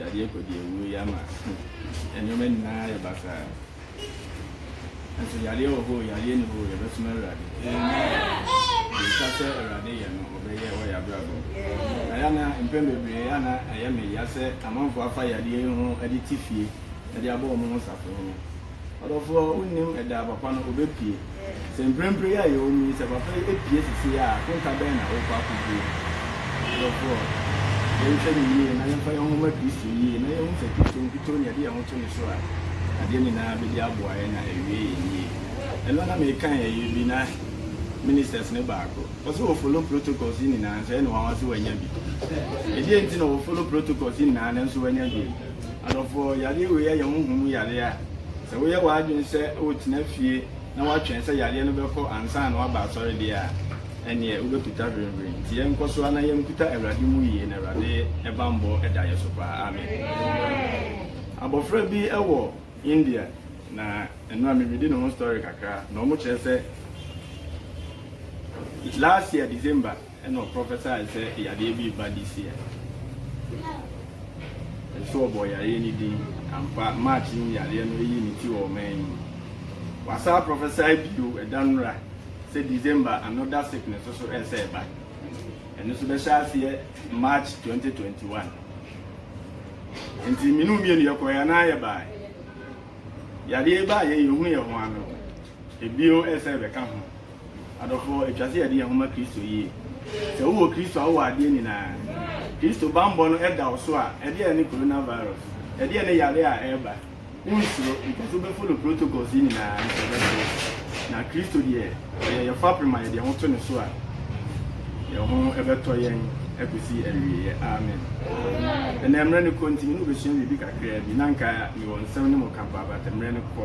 Yadeɛ kɔ di awuo yi ama nneɛma nyinaa ayɛ basaa. Nso yadeɛ wɔ hɔ o, yadeɛ ni hɔ o, yɛbɛsom Awurade. Deɛ ɛtwa sɛ Awurade yɛ no, ɔbɛyɛ wɔ yɛn abrabɔ mu. Na yɛ ana mpɛn bebree yɛ ana ɛyɛ me ya sɛ amanfoɔ afa yadeɛ yi ho de te fie de abɔ wɔn ho safohene. Ɔdɔfoɔ, wonnim ɛda a papa no ɔbɛpue. Sɛ mprempren yi a yɛwɔ mu yi, sɛ papa yi pue seesei a, akonta bɛn na worekɔ akɔdie? Ɔdɔfoɔ, yɛnhwɛ no yie na yɛmfa yɛn ho mma Kristo yie na yɛnhu sɛ Kristo nkutoo na yɛde yɛn ho to ne so a, adeɛ nyinaa bɛdi aboa yɛn na awie yɛn yie. Ɛno na mekan ɛyɛ bi na ministers no baako, ɔse wɔ follow protocols yi nyinaa nso ɛne wanwa sɛ wanya bi. Ɛdeɛn nti na wɔ follow protocols yi nyinaa nanso wanya bi? Adɔfoɔ, yadeɛ wei yɛ honhom mu yadeɛ a sɛ woyɛ w'adwene sɛ wotena fie na woatwɛn sɛ yadeɛ no bɛkɔ ansa na woaba asɔredeɛ a, ɛnneɛ wobɛkuta hwirenhwiren. Nti yɛnkɔ so ara na yɛnkuta Awurade mu yie na Awurade bammɔ da yɛn so paa. Amen. Abɔfra bi wɔ India na ɛno a meredi ne ho story kakra na wɔkyerɛ sɛ last year December, Ɛna ɔ prophesied sɛ yadeɛ bi reba this year. Nso ɔbɔɔ yareɛ no din. Ampa, March yi mu yareɛ no ayi ne ti wɔ ɔman yi mu. Wasan a prophesy bio ɛda nnora sɛ December another sickness nso resa reba. Ɛno nso bɛhyɛ aseɛ March 2021. Nti me ne wo mmienu yɛkɔeɛ anaa yɛbaeɛ? Yareɛ yi baeɛ yɛhunuiɛ ho ano. Bio nsa bɛka ho. Adɔfo, etwa sɛ yɛde yɛn ho ma Kristo yie. Sɛ wowɔ Kristo a, wowɔ adeɛ nyinaa. Kristo bammɔ no da wo so a, ɛdeɛn ne coronavirus? Ɛdeɛn ne yareɛ a ɛreba? Wonsuro, enti sɛ wobɛfollow protocols yi nyinaa a, anka ɛbɛto wo. Na Kristo deɛ, ɔyɛ yɛn fapem a yɛde yɛn ho to ne so a, yɛn ho bɛtɔ yɛn akɔsi awieeɛ. Amen. Ɛnnɛ, mmerɛ no kɔ nti, me ne wo bɛsua biribi kakraa bi. Na anka mewɔ nsɛm ne mo ka paa, but mmerɛ no kɔ.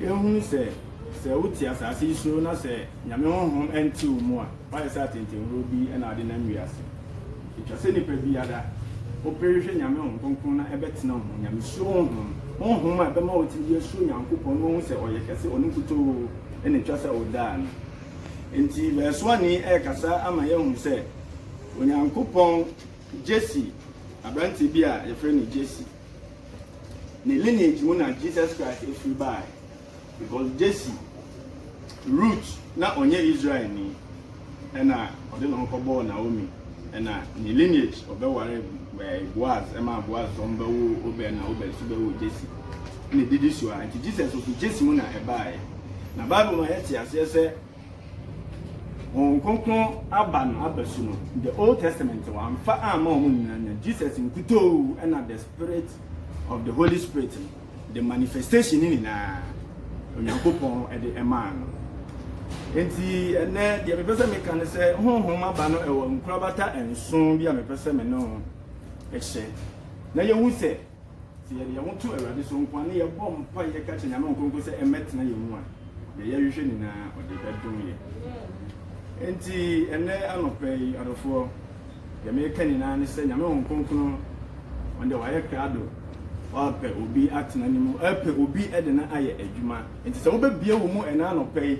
Yɛahunu sɛ, sɛ wote asase yi so na sɛ Nyame honhom nte wo mu a, woayɛ sɛ atentennuro bi na wode nam wiase. Etwa sɛ nipa biara, wopere hwɛ Nyame honhom kronkron na ɛbɛtena wo mu, Nyamesuro honhom, honhom a ɛbɛma watumi de asuro Nyankopɔn na wahu sɛ Ɔyɛ kɛse, Ɔno nkutoo na etwa sɛ wodaa no. Enti Vɛɛsoani rekasa ama yɛahu sɛ, Onyankopɔn Gyesi aberante bi a yɛfrɛ no Gyesi. ne lineage mu na Jesus Christ efiri baae because Jesse root na ɔnyɛ Israel ni ɛna ɔde ne ho kɔbɔɔ Naomi ɛna ne lineage ɔbɛware ɛɛ Boaz ɛma Boaz sɛ ɔmo bɛwo Obed na Obed so bɛwo Jesse ɛna edidi so a nti Jesus ofi Jesse mu na ɛbaae na Bible ma yɛte aseɛ sɛ Honhom Kronkron aba no abasu no the old testament wamfa amma wɔn nyinaa nya Jesus nkutoo ɛna the spirit of the holy spirit no the manifestation ne nyinaa Onyankopɔn ɛde ɛmaa no nti ɛnɛ deɛ mepɛ sɛ meka no sɛ honhom aba no ɛwɔ nkorabata nson bi a mepɛ sɛ me no ɛhyɛ na yɛhu sɛ Sɛ yɛde yɛn ho to Awurade so nko ara na yɛbɔ mpaeɛ ka kyerɛ Nyame Ɔnkronkron sɛ ɛmmɛtena yɛn mu a, deɛ yɛhwehwɛ nyinaa ɔde bɛdom yɛn. Enti ɛnnɛ anɔpa yi adɔfoɔ, deɛ meka nyinaa ne sɛ Nyame Ɔnkronkron ɔno deɛ wayɛ krado, ɔrepɛ obi atena ne mu, ɔrepɛ obi de no ayɛ adwuma. Enti sɛ wobɛbie wo mu ɛnnɛ anɔpa yi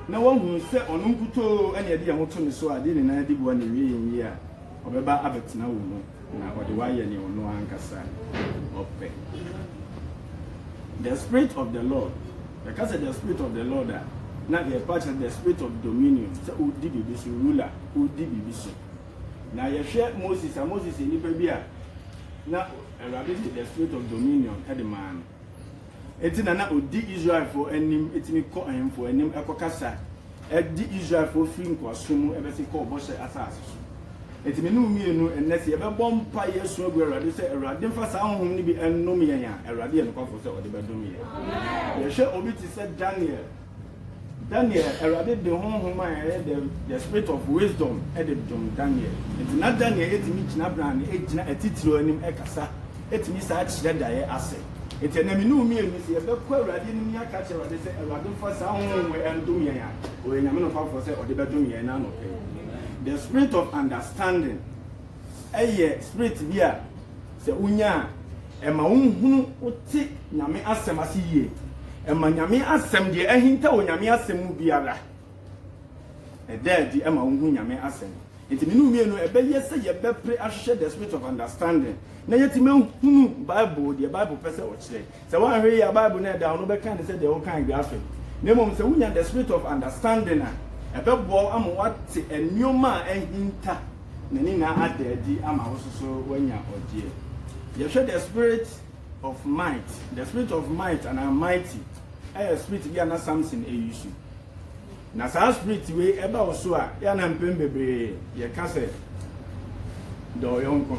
na woahunu sɛ ɔno nkutoo na yɛde yɛn ho to ne so a, deɛ nyinaa di boa na ɛwie yɛn yie a, ɔbɛba abɛtena wo mu. Na ɔde wo ayɛ nea ɔno ankasa ɔpɛ. The spirit of the Lord, yɛka sɛ the spirit of the Lord a, na yɛpa kyerɛ the spirit of dominion, sɛ ɔdi biribi so, ruler, ɔdi biribi so. Na yɛhwɛ Moses a, Moses yɛ nipa bi a na Awurade de the spirit of dominion de maa no. Enti na na odi Israelfo anim tumi kɔ ahemfo anim kɔkasa de Israelfo firi nkoasom mu bɛsi kɔɔ Bɔhyɛ Asase so. Enti me ne wo mmienu nnɛ, sɛ yɛbɛbɔ mpaeɛ asu agu Awurade sɛ, Awurade mfa saa honhom no bi nnom yɛn a, Awurade yɛ nokwafoɔ sɛ Ɔde bɛdom yɛn. Yɛhwɛ obi te sɛ Daniel. Daniel, Awurade de honhom a ɛyɛ dɛ, the spirit of wisdom, de dom Daniel. Enti na Daniel tumi gyina brane, gyina atitiriw anim kasa, tumi san kyerɛ daeɛ ase. Enti ɛnnɛ me ne wo mmienu, sɛ yɛbɛkɔ Awurade anim na yɛaka akyerɛ Awurade sɛ, Awurade mfa saa honhom wei ndom yɛn a, Ɔyɛ Nyame nokwafoɔ sɛ Ɔde bɛdom yɛn ɛnnɛ anɔpa yi. The spirit of understanding yɛ spirit bi a, Sɛ wonya a, ɛma wohunu wote Nyame asɛm ase yie. Ɛma Nyame asɛm, deɛ ahinta wɔ Nyame asɛm mu biara, ɛda adi ɛma wohu Nyame asɛm. Nti mene mmienu ɛbɛyɛ sɛ yɛbɛpere ahwehwɛ the spirit of understanding na yɛtumi ahunu Bible, deɛ Bible pɛ sɛ ɔkyerɛ. Sɛ woanhwɛ yie a, Bible no a ɛda hɔ no, wobɛkan no sɛ deɛ wokan graphic. Na mmom sɛ wonya the spirit of understanding a, ɛbɛboa wo ama woate nneɛma a ahinta, na ne nyinaa ada adi ama wo nso so woanya ɔgyeɛ. Yɛhwɛ the spirit of might. The spirit of might anaa mighty yɛ spirit bi a na Samson use. Na saa spirit wei ɛba wo so a, yɛ na mpɛn bebree yɛka sɛ dɔ wo yɔnko.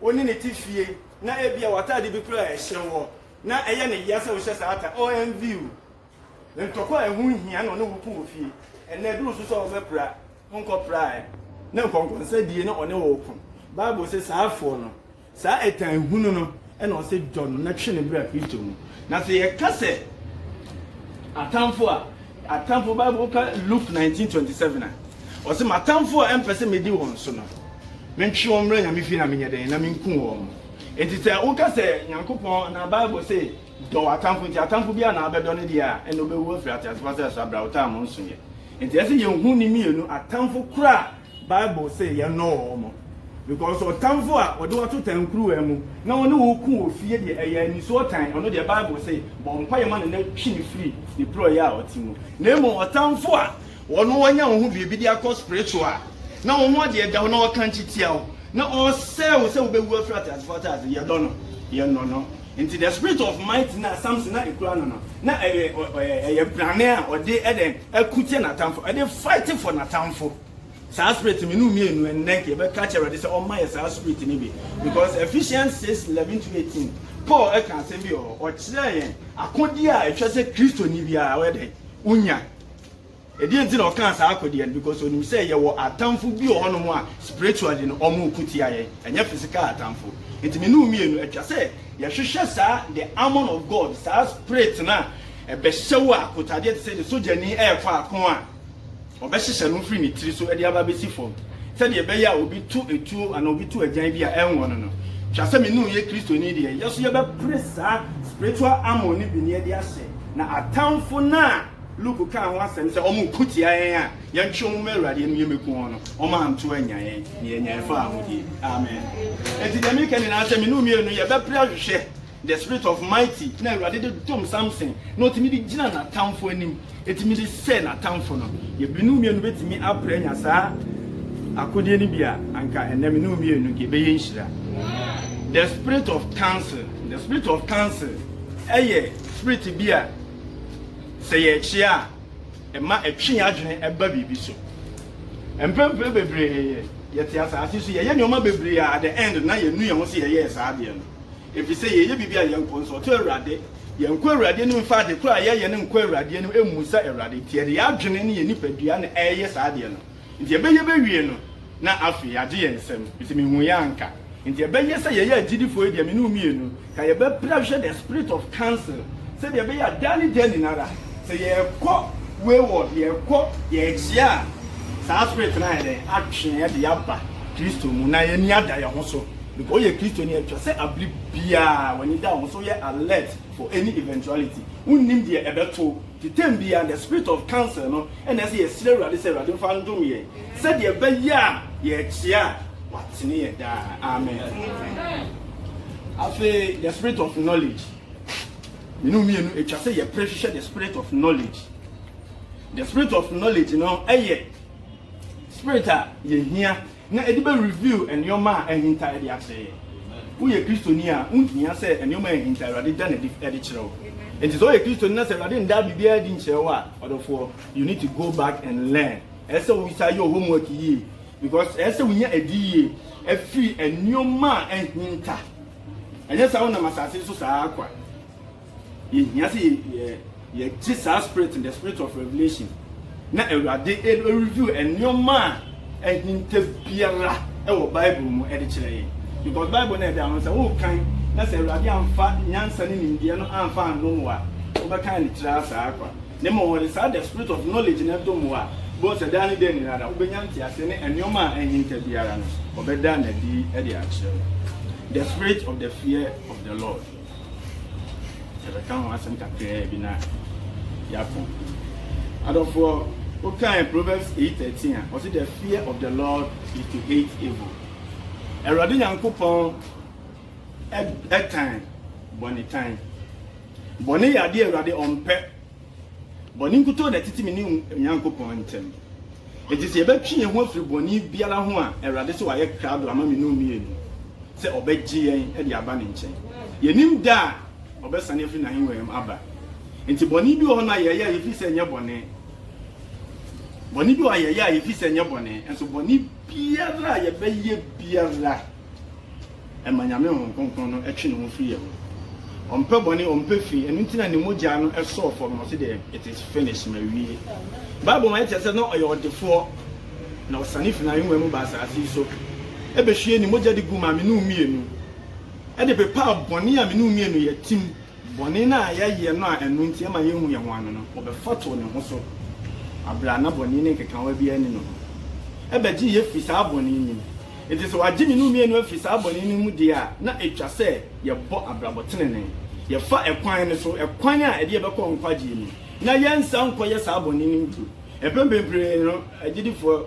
wo ne no te fie na ebia w'atade bi koraa a ɛhyɛ woɔ na ɛyɛ no yea sɛ wohyɛ saa ata OMV o! Ntɔkwa a ɛho nhia na ɔne wo ko wɔ fie. Ɛnnɛ ɛduru nso sɛ ɔbɛpra, wonkɔpra ɛ. Na nkɔnkɔnsa die na ɔne wo reko. Bible se saafoɔ no, saa ɛtan hunu no, na ɔsɛ dɔ no na twe ne bra Kristo mu. Na sɛ yɛka sɛ atamfo a, atamfo Bible ka Luke 19:27 a ɔsɛ m'atamfo a ɛmpɛ sɛ medi wɔn so no, mentwe wɔn mmra Nyame fie na menyɛ dɛn na menku wɔn. Enti sɛ woka sɛ Nyankopɔn anaa Bible se dɔ w'atamfo nti atamfo biara na abɛdɔ ne deɛ a, ɛnna ɔbɛwu afiri ateasefoɔ asase so abrɛ a ɔtaa mo nso yɛ. Enti ɛsɛ yɛhu ne mmienu, atamfo koro a Bible se yɛnnɔ wɔn, because ɔtamfo a ɔde wo ato tankuruwa mu na ɔne wo reko wɔ fie deɛ, ɛyɛ anisoɔ tan, ɔno deɛ Bible se bɔ mpaeɛ ma no na twe no firi ne porɔeɛ a ɔte mu. Na mmom ɔtamfo a ɔno ɔnya wo ho biribi de akɔ spiritual a, na wo ho adeɛ da hɔ na ɔrekankye tia wo, na ɔresɛe wo sɛ wobɛwu afiri ateasefoɔ asase, yɛdɔ no? Yɛnnɔ no. Nti the spirit of might na Samson na ekura no no, na ɛyɛ ɔ ɔ ɛyɛ brane a ɔde ɛdɛn ɛko tia n'atamfo, ɛde fight for n'atamfo. Saa spirit no mmienu mmienu, ɛnnɛ nka yɛbɛka akyerɛ Awurade sɛ ɔmma yɛ saa spirit no bi. Because Ephesians six eleven to eighteen, Paul ɛka asɛm bi wɔ hɔ, ɔkyerɛɛ yɛn akodeɛ a ɛtwa sɛ Kristoni biara ɔyɛ dɛn, onya. Ɛdeɛn nti na ɔkaa saa akodeɛ no because ɔnim sɛ yɛwɔ atamfo bi wɔ hɔ nom a spiritually no wɔn reko tia yɛn ɛnyɛ physical atamfo nti me ne wo mmienu ɛtwa sɛ yɛhwehwɛ saa the armor of God saa spirit no a ɛbɛhyɛ wo akotadeɛ te sɛ deɛ sogyani ɛrekɔ ako a ɔbɛhyehyɛ no firi ne tiri so ɛde aba bɛsi fam sɛdeɛ ɛbɛyɛ a obi to etuo anaa obi to agyan bi a ɛnwɔ no no twa sɛ me ne wo yɛ kristoni deɛ yɛso yɛbɛpere saa spiritual armor no bi ne ɛde ahyɛ na atamfo no a Luke kaa ho asɛm sɛ, Wɔko tia yɛn a, yɛntwe wɔn mma Awurade anim, yɛmmɛku wɔn no, wɔanto annya yɛn, na yɛanya ɛfa ahodie. Amen. Enti deɛ meka nyinaa sɛ, me ne wo mmienu yɛbɛpere ahwehwɛ the spirit of mighty na Awurade de dom Samson na ɔtumi de gyina n'atamfo anim, ɛtumi de sɛ n'atamfo no. Yɛbi ne wo mmienu bɛtumi apere anya saa akodeɛ no bi a, anka ɛnnɛ me ne wo mmienu nka ɛbɛyɛ nhyira. The spirit of counsel, the spirit of counsel ɛyɛ spirit bi a, Sɛ yɛrekyea a, ɛma ɛtwe yɛn adwene ba biribi so. Mprempren bebree yɛte asase so, yɛyɛ nneɛma bebree a at the end no na yɛnu yɛn ho sɛ yɛyɛɛ saa adeɛ no, efisɛ yɛyɛ biribi a yɛnkɔnsɔɔto Awurade, yɛnkɔ Awurade anim mfa ade koro a yɛyɛ no nkɔ Awurade anim, mmisa Awurade, nti yɛde yɛn adwene ne yɛn nipadua na ɛreyɛ saa adeɛ no. Nti ɛbɛyɛ bɛwie no na afei agye yɛn nsam nti mehu yɛ anka nti ɛbɛyɛ sɛ yɛyɛ agyidifoɔ yi deɛ me ne wo mmienu ka yɛbɛpra hwɛ the spirit of council sɛdeɛ ɛbɛyɛ a daa ne daa nyinara sɛ yɛkɔ wayward yɛkɔ yɛkyea a saa spirit no ayɛ dɛn atwe yɛn de aba Kristo mu na yɛn ani ada yɛn ho so because woyɛ Kristo ni atwa sɛ abere biara wɔn ani da wo ho so yɛ alert for any eventuality wonnim deɛ ɛbɛto nti term biara the spirit of council no na ɛsɛ yɛsrɛ Awurade sɛ Awurade mfa ndom yɛn sɛdeɛ ɛbɛyɛ a yɛrekyea a watene yɛn daa. Amen. Afei, the spirit of knowledge. Mene mmienu atwa sɛ yɛpere hwehwɛ the spirit of knowledge. The spirit of knowledge no ɛyɛ spirit a yɛhia Na ɛde bɛ reveal nneɛma a ahinta ɛde akyerɛ yɛn. Woyɛ Kristoni a, wonhia sɛ nneɛma a ahinta Awurade da no adi ɛde kyerɛ wo. Enti sɛ woyɛ Kristoni na sɛ Awurade nndaa biribiara adi nkyerɛ wo a, ɔdɔfoɔ, you need to go back and learn. Ɛyɛ sɛ wo san yɛ wo homework yie. Because ɛyɛ sɛ wonya adiyie afiri nneɛma a ahinta. Anyɛ saa wonam asase so saa ara kwa. Yɛhia sɛ yɛgye saa spirit no, the spirit of revelation, na Awurade reveal nneɛma a ahinta biara wɔ Bible mu de kyerɛ yɛn. Because Bible no ɛda no sɛ wokan na sɛ Awurade amfa nyansa ne nimdeɛ no amfa annom wo a, wobɛkan ne tiri asaa kwa. Na mmom wɔde saa the spirit of knowledge no dom wo a, wobɛhu sɛ daa ne daa nyinaa wobɛnya nteaseɛ ne nneɛma a ahinta biara no, wɔbɛda no adi de akyerɛ wo. The spirit of the fear of the Lord. Yɛbɛka ho asɛm kakraa bi na yɛakɔ. Adɔfoɔ, wokae Proverbs 8:13 a, ɔse the fear of the Lord is to hate evil. Awurade Nyankopɔn ɛtan bɔne tan. Bɔne yɛ adeɛ Awurade ɔmpɛ. Bɔne nkutoo na ɛtete me ne me Nyankopɔn ntam. Enti sɛ yɛbɛtwe yɛn ho afiri bɔne biara ho a, Awurade se wayɛ krado ama me ne wo mmienu sɛ ɔbɛgye yɛn de aba ne nkyɛn. Yɛnnim da a ɔbɛsane afiri n'ahengua mu aba. Enti bɔne bi wɔ hɔ no a yɛyɛ a yɛfiri sɛ ɛnyɛ bɔne, bɔne bi wɔ hɔ a yɛyɛ a yɛfiri sɛ ɛnyɛ bɔne, nanso bɔne biara a yɛbɛyɛ biara, ɛma Nyame Honhom Kronkron no twe ne ho firi yɛ ho. Ɔmpɛ bɔne, ɔmpɛ fi, ɛno nti na ne mogyaa no sɔɔ fɔm na ɔse deɛ, It is finished, mawie. Bible ma yɛte asɛ na ɔyɛ ɔdefoɔ, na ɔsane firi n'ahengua mu baa asaase yi so, bɛhwiee ne mogya de guu maa me ne wo mmienu, de pepaa bɔne a me ne wo mmienu yɛ, tim. Bɔne no a yɛayɛ no a ɛno nti ɛma yɛnhu yɛn ho ano no, ɔbɛfatow ne ho so bere a na bɔne no nkekaawa biara nni ne ho no. Ɛbɛgye yɛn afi saa bɔne no mu. Enti sɛ wɔagye me ne wo mmienu afi saa bɔne no mu deɛ a, na etwa sɛ yɛbɔ abrabɔ tenenee, yɛfa ɛkwan no so, ɛkwan a ɛde yɛn bɛkɔ nkwagyeɛ mu, na yɛnsan nkɔyɛ saa bɔne no bio. Mpɛn bebree no, agyidifo.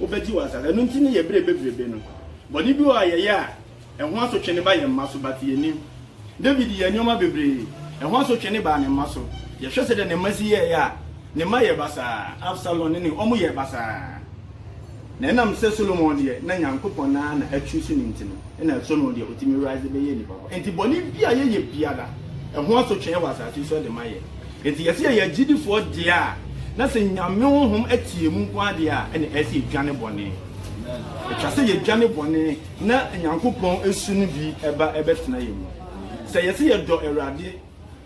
Wobegye wɔn asase. Ɛno nti ne yɛ bere bebrebe no, bɔne bi wɔ hɔ a yɛyɛ a, ɛho asotwe no ba yɛn mma so, but yennim. David yɛɛ nneɛma bebree, ɛho asotwe no baa ne mma so. Yɛhwɛ sɛnea ne mma si yɛe a, ne mma yɛɛ basaa, Absalom ne ne, wɔyɛɛ basaa. Na ɛnam sɛ Solomon deɛ, na Nyankopɔn no ara na achoose no nti no, ɛna Solomon deɛ, otumi rise bɛyɛɛ nipa pa. Enti bɔne bi a yɛyɛ biara, ɛho asotwe wɔ asase so de ma yɛn. Enti yɛse yɛyɛ agyidifoɔ deɛ a na sɛ Nyame honhom te yɛn mu nko ara deɛ a ɛne ɛyɛ sɛ yɛdwane bɔne. Ɛtwa sɛ yɛdwane bɔne na Nyankopɔn su no bi ba bɛtena yɛn mu. Sɛ yɛse yɛdɔ Awurade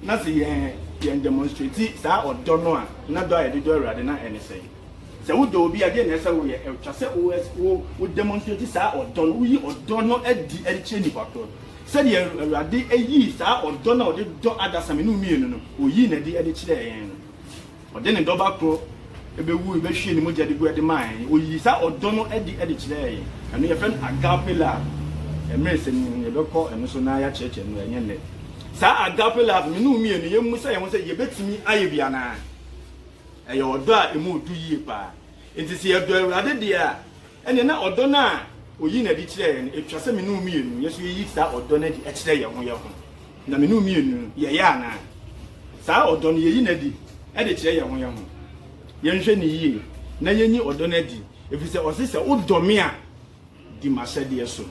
na sɛ yɛn yɛn demonstrate saa ɔdɔ no a, na dɔ a yɛde dɔ Awurade na ɛne sɛn? Sɛ wodɔ obi a, deɛn na ɛsɛ sɛ woyɛ? Ɛtwa sɛ wo wo wo demonstrate saa ɔdɔ no, woyi ɔdɔ no adi de kyerɛ nipa korɔ no. Sɛdeɛ Awurade yii saa ɔdɔ no a ɔde dɔ adasamma no mmienu no, ɔyii no adi de kyerɛɛ yɛn no. Ɔde ne dɔba korɔ bɛwui, bɛhwiee ne mogya de gu de maa yɛn. Ɔyii saa ɔdɔ no adi de kyerɛɛ yɛn. Ɛno yɛfrɛ no agape love. Mmerɛ sɛ ni no, yɛbɛkɔ ɛno so na yɛakyerɛkyerɛ no, ɛnyɛ nnɛ. Saa agape love no, mene wo mmienu, yɛmmu sa yɛn ho sɛ yɛbɛtumi ayɛ bi anaa? Ɛyɛ ɔdɔ a ɛmu du yie paa. Enti sɛ yɛdɔ Awurade deɛ a, ɛnneɛ na ɔdɔ no a ɔyi no adi kyerɛ yɛn no, ɛtwa sɛ me ne wo mmienu yɛ nso yɛyi saa ɔdɔ no adi kyerɛ yɛn ho yɛn ho. Na me ne wo mmienu no, yɛyɛ anaa? Saa ɔdɔ no, yɛyi no adi de kyerɛ yɛn ho yɛn ho? Yɛnhwɛ no yie na yɛnyi ɔdɔ no adi, ɛfiri sɛ ɔse sɛ wodɔ me a, Di m'ahyɛdeɛ so.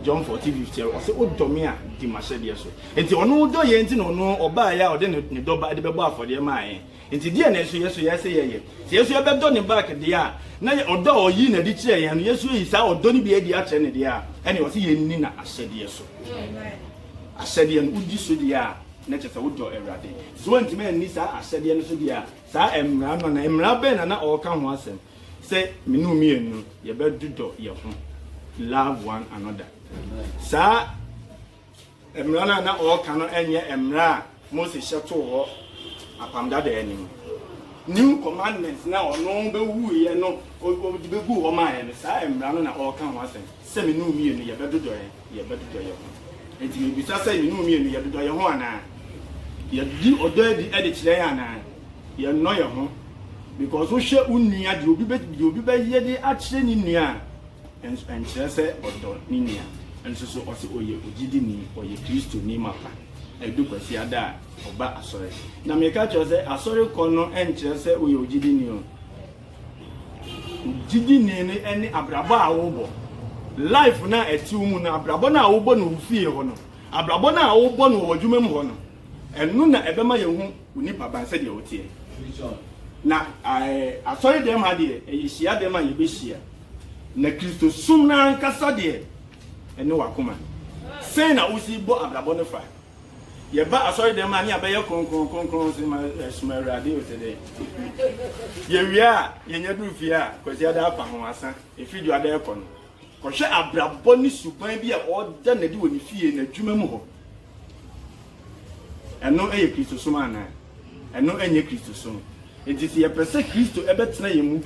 John fourteen fifty ɛwɔ ɔsɛ odɔ me a di m'ahyɛdeɛ so nti ɔno dɔ yɛn nti na ɔno ɔbaa yɛ a ɔde ne ne dɔ ba de bɛbɔ afɔdeɛ maa yɛn nti deɛ na ɛso yɛ so yɛsɛ yɛyɛ sɛ yɛso yɛbɛdɔ ne back deɛ a na yɛ ɔdɔ a ɔyi na de kyerɛ yɛn no yɛso yɛyi saa ɔdɔ no bi adi akyerɛ ne deɛ a ɛne ɔsɛ yɛnni na ahyɛdeɛ so ahyɛdeɛ no wodi so deɛ a na kyerɛ sɛ wodɔ awurade so wantumi anni saa ahyɛdeɛ no so deɛ a saa mmara no na mmara bɛn na na ɔreka ho asɛm Sɛ me ne wo mmienu yɛbɛdodɔ yɛn ho, love one another. Saa mmara no a na ɔreka no nyɛ mmara a Mose hyɛ too hɔ apam dada anim. New commandment na ɔno bɛwuiɛ no ɔde bɛgu hɔ maa yɛn no, saa mmara no na ɔreka ho asɛm sɛ me ne wo mmienu yɛbɛdodɔ yɛn. Yɛbɛdodɔ yɛn ho. Enti mibisa sɛ, yɛn mu mmienu, yɛdodɔ yɛn ho anaa? Yɛde ɔdɔ adi de kyerɛ yɛn anaa? Yɛnnɔ yɛn ho? Because wohwɛ wo nua, deɛ obi bɛ, deɛ obi bɛyɛ de akyerɛ ne nua a, ɛns, ɛnkyerɛ sɛ ɔdɔ ne nua. Nso so ɔse ɔyɛ ogyidini, ɔyɛ Kristoni mapa. Ɛdu Kwasiada a, ɔba asɔre. Na meka kyerɛ wo sɛ, asɔre kɔ no ɛnkyerɛ sɛ woyɛ ogyidini o. Gyidini no ne abrabɔ a wobɔ. Life no a ɛte wo mu no, abrabɔ no a wobɔ no wo fie hɔ no, abrabɔ no a wobɔ no wɔ w'adwuma mu hɔ no, ɛno na ɛbɛma yɛahu wo nipaban sɛdeɛ woteɛ. Na asɔre dɛm ha deɛ, ɛyɛ hyia dɛm a yɛbɛhyia. Na Kristo som no ankasa deɛ, ɛne w'akoma. Sɛn na wosi bɔ abrabɔ no fa? Yɛba asɔredɛm a ne abɛyɛ kronkron kronkron se ma ɛsoma awurade o te dɛ. Yɛwie a yɛnya duru fie a kwasiada afa ho asa ɛfiri dwada ɛkɔ no. Kɔhwɛ abrabɔ ne suban bi a ɔda no adi wɔ ne fie, n'adwuma mu hɔ. Ɛno yɛ Kristosom anaa? Ɛno nyɛ Kristosom. Enti sɛ yɛpɛ sɛ Kristo bɛtena yɛn mu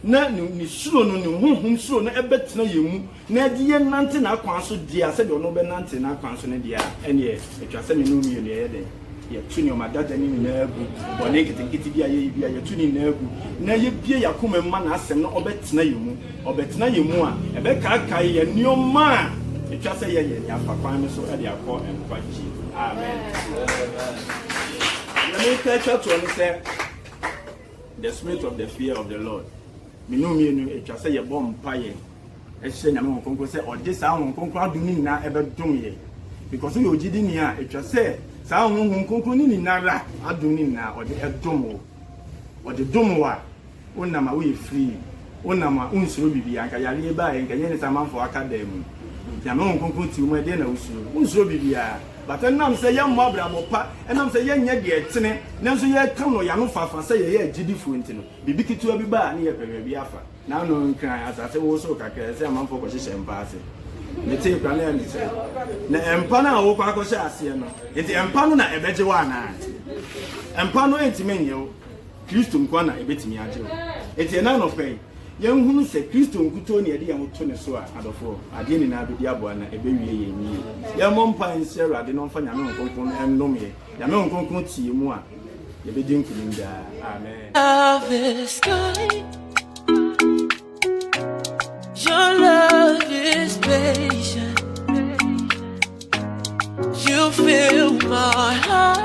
na ne suro no, ne honhom suro no bɛtena yɛn mu na ɛde yɛn nante n'akwan so dea sɛdeɛ ɔno ɔbɛnante n'akwan so no deɛ a, ɛnneɛ ɛtwa sɛ me ne wo mmienu yɛyɛ dɛn? Yɛto nneɛma dada ne nyinaa gu, bɔne nketenkete bi a yɛyɛ bi a, yɛto ne nyinaa gu na yɛbie yɛn akoma mu ma n'asɛm no ɔbɛtena yɛn mu. Ɔbɛtena yɛn mu a, ɛbɛkaakae yɛn nneɛma a etwa sɛ yɛyɛ ne afa kwan no so de akɔ nkwagye. Amen. Nea meka atwa toɔ ne sɛ, the spirit of the fear of the Lord. Mmienu mmienu atwa sɛ yɛbɔ mpaeɛ ɛhyɛ nyame ho kronkron sɛ ɔde saa ho kronkron adom no nyinaa ɛbɛdom yɛ because woyɛ ogyidi ni a ɛtwa sɛ saa honhom kronkron no nyinara adom no nyinaa ɔde ɛdom wo ɔde dom wo a Wonam a woyɛ free, wonam a wonsuro biribiara, nka yareɛ yi baeɛ nka ɛnyɛ nisa amanfoɔ aka dan mu, Nyame Honhom Kronkron te wo mu a ɛdeɛn na wosuro? Wonsuro biribiara, but ɛnam sɛ yɛmmɔ abrabɔ pa, ɛnam sɛ yɛnyɛ deɛ ɛtene, nanso yɛka no yɛano fafa sɛ yɛyɛ agyidifoɔ nti no, biribi ketewa bi ba a ne yɛpɛ baabi afa. Na ano nkran, asase wosow kakra a ɛsɛ sɛ amanfoɔ kɔhyehyɛ mpa ase. Metee koraa na ɛyɛ me sɛ na mpa no a wokɔ akɔhyɛ aseɛ no, enti mpa no na ɛbɛgye wo anaa? Mpa no ntumi nnye wo. Kristo nkoa na ɛbɛtumi agye wo. Enti ɛnɛ anɔpa yi, yɛnhunu sɛ Kristo nkutoo ne yɛde yɛn ho to ne so a, adɔfoɔ, adeɛ nyinaa bɛdi aboa na ɛbɛwie yɛn yie. Yɛmmɔ mpaeɛ nhyɛ Awurade na ɔmfa Nyame Honhom Kronkron no nnome yɛn. Nyame Honhom Kronkron te yɛn mu a, yɛbɛdi nkunim daa. Amen. Love is kind. Your love is patient. You fill my heart.